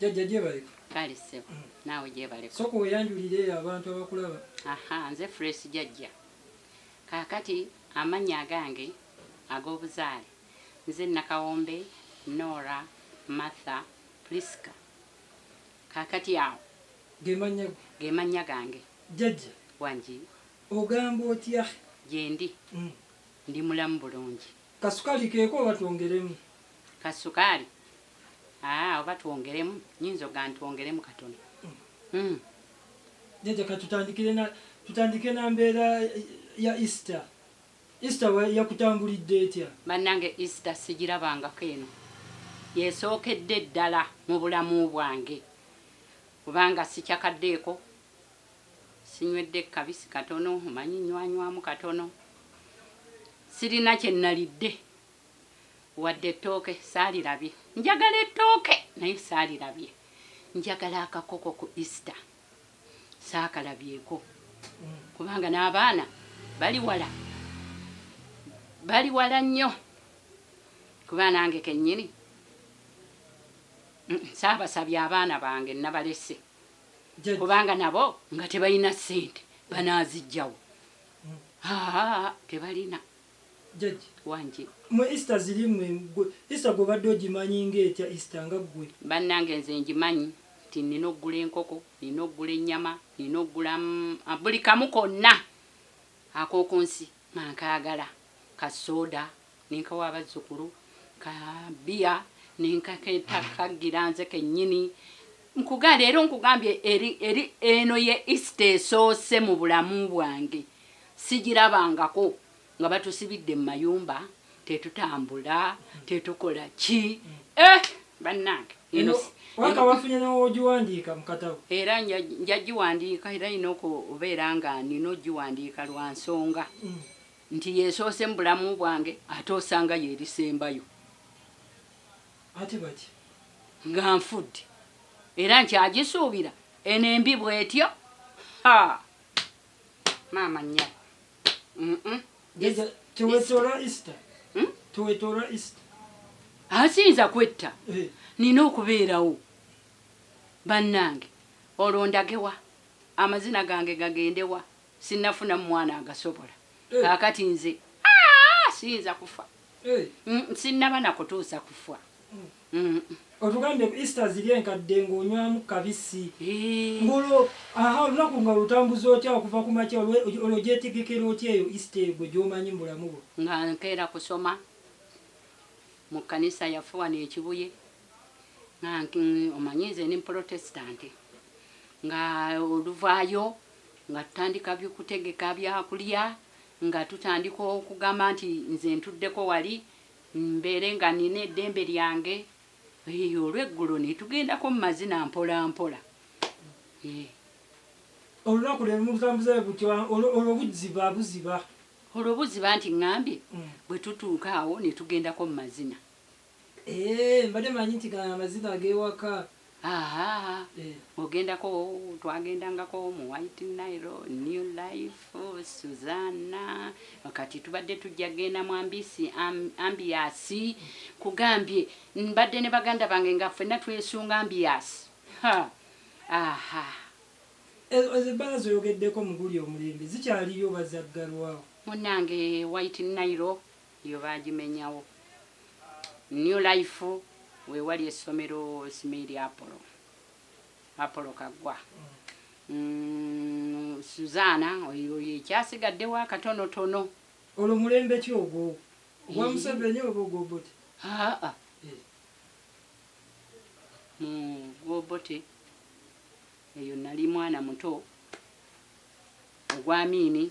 jajja gyebaleko kale ssebo mm. naawe gyebaleko soka oyanjulire abantu abakulaba aha nze fresh jajja kaakati amannya agange ag'obuzaale nze nakawombe nora martha priska kaakati awo gemannya gemannya gange jajja wangi ogamba otya gyendi mm. ndi mulamu bulungi kasukali keeko oba twongeremu Ka sukaali. Aa oba twongeremu nyinza oga ntwongeremu katono. Mm. Jaja katutandikire na tutandike na mbeera ya Easter. Easter yakutambulidde etya? Bannange Easter sigirabangako eno. Yesookedde ddala mu bulamu bwange kubanga sikyakaddeeko, sinywedde kabisi katono omanyi nywanywamu katono, sirina kye nalidde. wadde ettooke saalirabye. Njagala ettooke naye saalirabye. Njagala akakoko ku Easter, saakalabyeko kubanga n'abaana bali wala, bali wala nnyo kuba nange kennyini saabasabye abaana bange nabalese kubanga nabo nga tebalina ssente banaazijjawo? Haa tebalina. Jajja. Wangi. Mwe Easter ziri mwe gwe Easter gwe obadde ogimanyi nga etya Easter nga gwe. Banange nze ngimanyi nti nina okugula enkoko, nina okugula enyama, nina okugula buli kamu konna akokunsi nga nkagala ka soda nenkawa abazzukulu, ka beer nenkaketa kagira nze kenyini nkuga leero nkugambye eri eri eno ye Easter esoose mu bulamu bwange. Sigirabangako nga batusibidde mu mayumba tetutambula tetukola ki eh bannange eno waka wafunye n'owogiwandiika mu katabo era nja giwandiika era ina okubeera nga nina ogiwandiika lwa nsonga mm. nti yesoose mu bulamu bwange ate osanga yerisembayo ate bati nga nfudde era nkyagisuubira eno embi bwetyo ha maama nnyabo tewetoola easter hmm? tewetoola easter asiyinza kwetta eh. nina okubeerawo bannange olwo ndagewa amazina gange gagendewa sinafuna mumwana agasobola eh. kakati nze ah, siyinza kufa eh. mm, sinaba nakutuusa kufa mm. Otugambye ku Easter ziri enkadde ng'onywamu kabisi. Ng'olwo aha olunaku nga olutambuza otya okuva ku makya olwo ogyetegekera otya eyo Easter egwe gy'omanyi mu bulamu bwo? Nga nkeera kusoma mu kkanisa yaffe wano e Kibuye. Nga omanyi nze ndi Muprotesitante. Nga oluvaayo nga tutandika kutegeka byakulya nga tutandika okugamba nti nze ntuddeko wali Mbeere nga nnina eddembe lyange eeh, olw'eggulo ne tugendako mu mazina mpola mpola eeh. Olunaku lwe lutambuze butyo olwo, olwo buziba buziba. Olwo buziba nti ngambye bwe tutuuka awo ne tugendako mu mazina. Eeh, mbadde manyi nti gano amazina ag'ewaka. Ahaa ogendako twagendangako mu white nile new life suzana kati tubadde tujja genda mu ambisi ambiyasi kugambye mbadde ne baganda bange nga ffenna twesunga ambiyasi aha ezo ebbala zoyogeddeko mu guli omulembe zikyaliyo bazaggalwawo munange white nile Eyo baagimenyawo. New Life we wali essomero Smi lya Apollo, Apollo Kaggwa. Mm, Suzaana oyo oyo ekyasigaddewo akatonotono. Olwo mulembe ki ogwo? Ogwa Museveni oba ogwa Obote? Haa. Mu Obote eyo nali mwana muto, ogwa Amiini.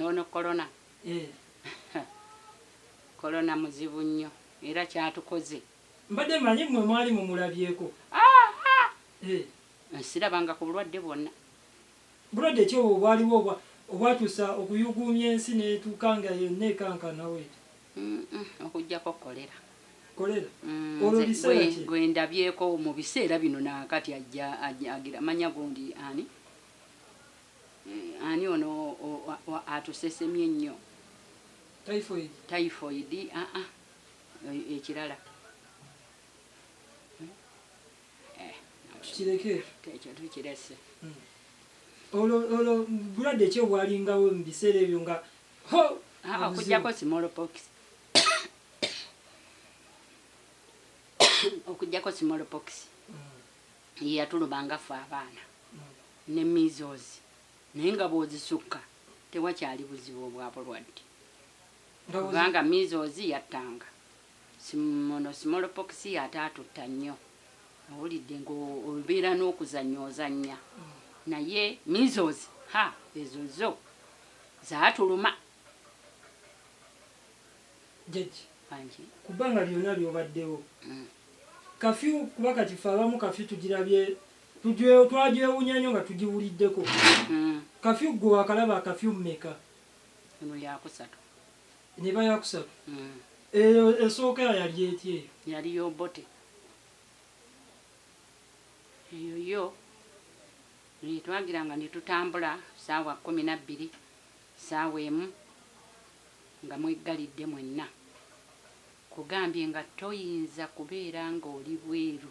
Ono kolona kolona muzibu nnyo era kyatukoze. Mbadde manyi mwe mwali mumulabyeko. Nsirabanga ku bulwadde bwonna. Bulwadde ki obwo obwaliwo obwatuusa okuyuuguumya ensi n'etuuka nga yonna ekankana bweti? Okuggyako kolera. Kolera? Olwo biseera ki? Gwe ndabyeko mu biseera bino na kati ajja agira. Manya gundi ani? Ani ono atusesemye ennyo? Typhoid. Typhoid, a a ekirala kireke ekyo tukirese hmm. olwo olwo bulwadde ki obwalingawo mu biseera ebyo nga ho okujjako smallpox okujjako smallpox hmm. yeyatulumanga ffe abaana ne measles naye nga bw'ozisukka tewakyali buzibu obwa bulwadde kubanga measles yattanga ono small pox ate atutta nnyo owulidde ng'obeera n'okuzannya ozannya naye measles ha ezo zo zaatuluma jajji ku bbanga lyonna ly'obaddewo mm. kafyu kuba kati fe abamu kafyu tugirabye Twagyewuunya nnyo nga tugiwuliddeko. Kafyu ggwe waakalaba akafyu mmeka? Eno ya kusatu. Eno eba ya kusatu? Eyo esookera yali etya eyo? Yali y'Obote. Eyo yo gye twagiranga ne tutambula ssaawa kkumi na bbiri, ssaawa emu nga mweggalidde mwenna. Nkugambye nga toyinza kubeera ng'oli bweru.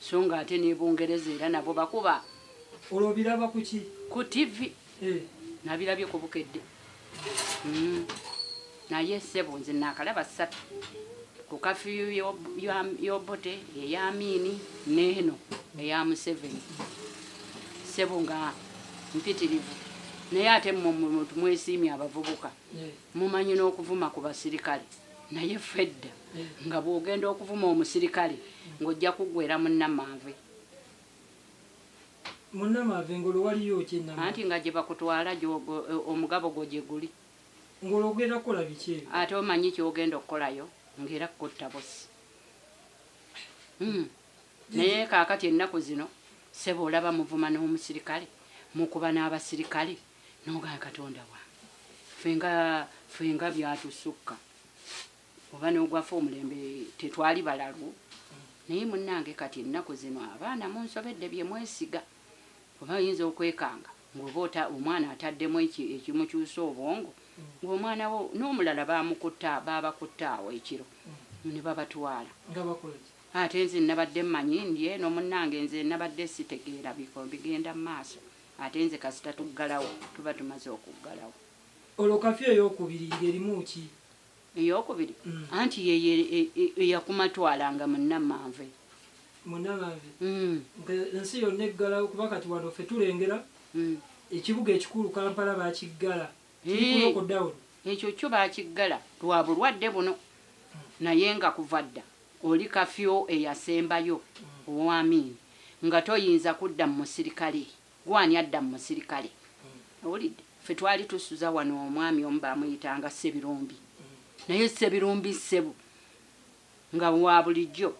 so nga ate ne bungereza era nabo bakuba olwo obiraba kuki ku tivi eh. nabirabye ku bukedde mm. naye sebo nze nakalaba ssatu ku kafiyu yobote eyamiini neeno eya museveni sebo nga mpitirivu naye ate mwe mwesiimye abavubuka eh. mumanyi n'okuvuma ku basirikale naye fedda nga bwogenda okuvuma omusirikale ng'ojja kuggwera mu namaave munamaave ngolo waliyo ki anti nga gye bakutwala omugabo gwo gye guli ngolo ogenda kukola biki ebyo ate omanyi kyogenda okukolayo ng'era kukutta bosi hmm. naye kaakati ennaku zino sebo olaba muvuma n'omusirikale mukuba n'abasirikale nogaya katonda wange fenga fenga byatusukka oba nogwafa omulembe tetwali balalu naye munange kati ennaku zino abaana munsobedde byemwesiga oba oyinza okwekanga ngaoba omwana ataddemu ekimukyusa obwongo ngaomwana wo n'omulala bamukutta babakuttaawo ekiro ne babatwala ate nze nabadde mmanyi ndi eno munnange nze nabadde sitegeera bigenda mu maaso Ate nze kasita tuggalawo tuba tumaze okuggalawo. Olwo kafyu ey'okubiri ng'erimu ki? Ey'okubiri? Mm. Anti yeyo e, e, e, eyakumatwalanga mu Namanve. Mu Namanve? Mm. Ensi yonna eggalawo kuba kati wano ffe tulengera mm. ekibuga ekikulu Kampala baakiggala. Yii ekyo kyo bakiggala lwa bulwadde buno naye nga kuva dda oli kafyu eyasembayo owa Amin nga toyinza kudda mu musirikale gwe ani adda mu musirikale owulidde ffe twali tusuza wano omwami omu bamuyitanga Sebirumbi naye Sebirumbi ssebo nga wa bulijjo.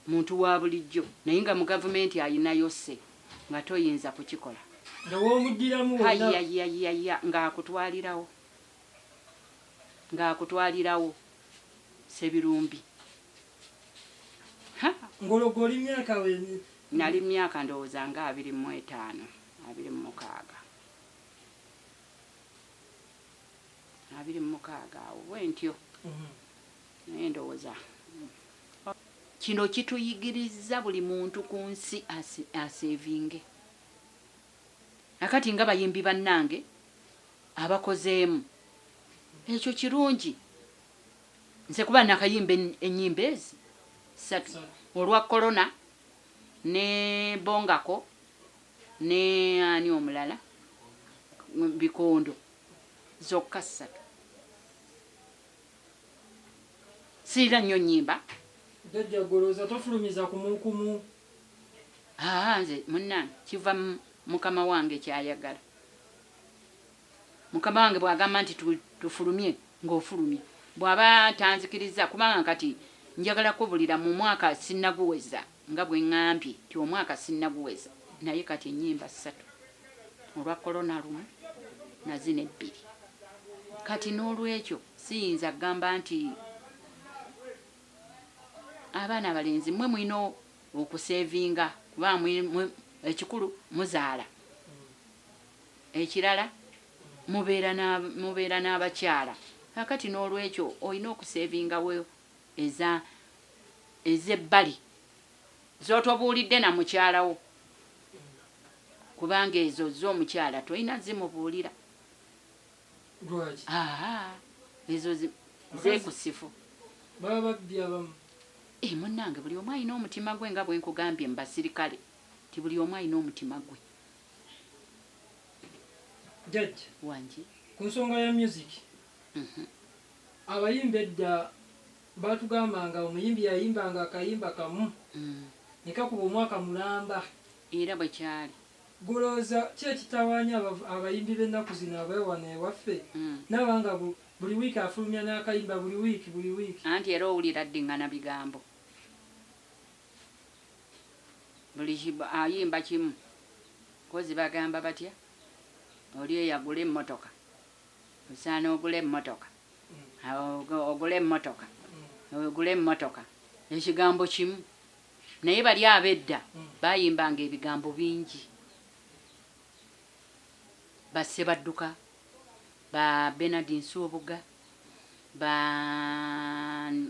Muntu wabulijjo naye nga mu gavumenti ayinayo say nga toyinza kukikola. Nga womudiramu wonna. Hayayayaya nga akutwalirawo nga akutwalirawo sebirumbi ha. Ngolo gwe oli myaka we. Nali myaka ndowooza nga abiri mu etaano abiri mu mukaaga abiri mu mukaaga awo bwentyo. Naye ndowoza kino kituyigirizza buli muntu ku nsi asevinge akati nga bayimbi bannange abakozeemu ekyo kirungi nze kuba nakayimba ennyimba ezi satu olwa korona ne bongako ne ani omulala bikondo zokka ssatu Sirina nnyo nnyimba. Jjajja ggwe olowooza tofulumiza kumuukumu? Haa nze munnange kiva mukama wange ky'ayagala. Mukama wange bw'agamba nti tufulumye ng'ofulumye. Bw'aba tanzikirizza kubanga kati njagala kubulira mu mwaka sinnaguweza. Nga bwe ŋŋambye nti omwaka sinnaguweza naye kati ennyimba ssatu olwa Corona lumu na zino ebbiri kati n'olwekyo siyinza kugamba nti abaana abalenzi mmwe mulina okuseevinga kuba ekikulu muzaala ekirala mubeera n'abakyala kaakati n'olwekyo olina okuseevinga eza ez'ebbali z'otobuulidde na mukyala wo kubanga ezo zzo omukyala tolina zimubuulira. Lwaki? Haa ezo zeekusifu. Baba babbi abamu. Eh munnange buli omu alina omutima gwe nga bwe nkugambye mu basirikale nti buli omu alina omutima gwe. Jajja. Wangi. Ku nsonga ya myuziki. Mhm. Abayimbi edda baatugambanga omuyimbi yayimbanga akayimba kamu ne kakuba omwaka mulamba. Era bwe kyali. Ggwe olowooza ki ekitawaanya abayimbi b'ennaku zino aba wano ewaffe n'aba nga buli wiiki afulumya n'akayimba, buli wiiki, buli wiiki? Anti era owulira addingana bigambo. Buli ayimba kimu. Mpozzi bagamba batya oli eyagula emmotoka Osaana ogule emmotoka, ogule emmotoka, ogule emmotoka, ekigambo kimu. Naye bali ab'edda bayimbanga ebigambo bingi, ba Ssebadduka, ba Benard Nsuubuga, ba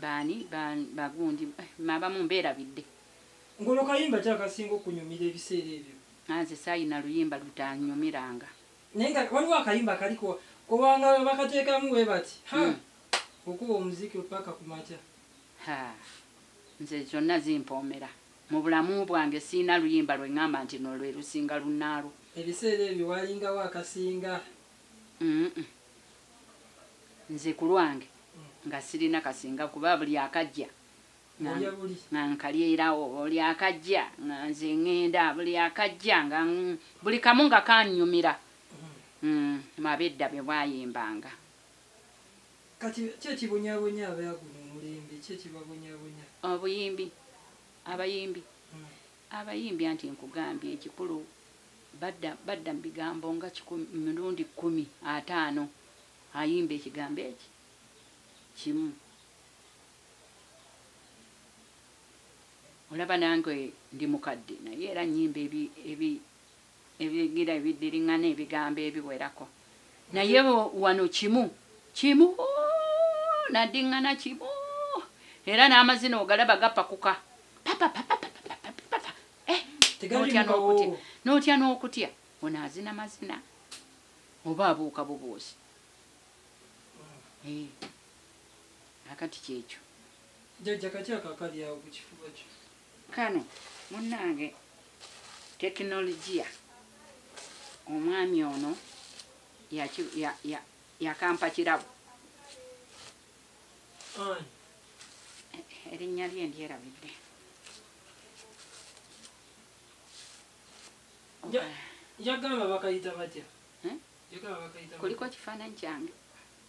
baani bagundi eh, abamu mbeerabidde. Ng'olwo kayimba ki akasinga okunyumira ebiseera ebyo? Nze saayina luyimba lutanyumiranga. Naye nga waliwo akayimba kali ko kobanga bakateekamu bwe bati ha hmm. okuba omuziki paka ku makya. Ha nze zonna zimpoomera mu bulamu bwange sirina luyimba lwe ŋŋamba nti no lwe lusinga lunnaalwo. Ebiseera ebyo walingawo akasinga. Nze ku lwange nga sirina kasinga kuba buli akajja nga nkalyerawo buli akajja nga nze ŋŋenda buli akajja nga buli kamu nga kannyumira mm, abedda bwe bwayimbanga. Kati ki ekibonyabonya aba guno omulembe? Ki ekibabonyabonya? Obuyimbi, abayimbi mm. abayimbi anti nkugambye ekikulu badda badda mu bigambo nga mirundi kkumi ataano ayimba ekigambo eki kimu. Olaba nange ndi mukadde naye era nyimba ebigira ebiddiringana ebigambo ebiwerako naye wano kimu kimu nadingana kimu era n'amazina ogalaba gapakuka eh, n'otya n'okutya ono azina mazina oba abuuka bubuuzi eh. Nakati kyekyo. Jajja kati ako akali awo ku kifuba kyo. Kano munange technologia omwami ono yakampa kirabo erinnya lye ndyerabidde yagamba bakayita batya kuliko kifaananyi kyange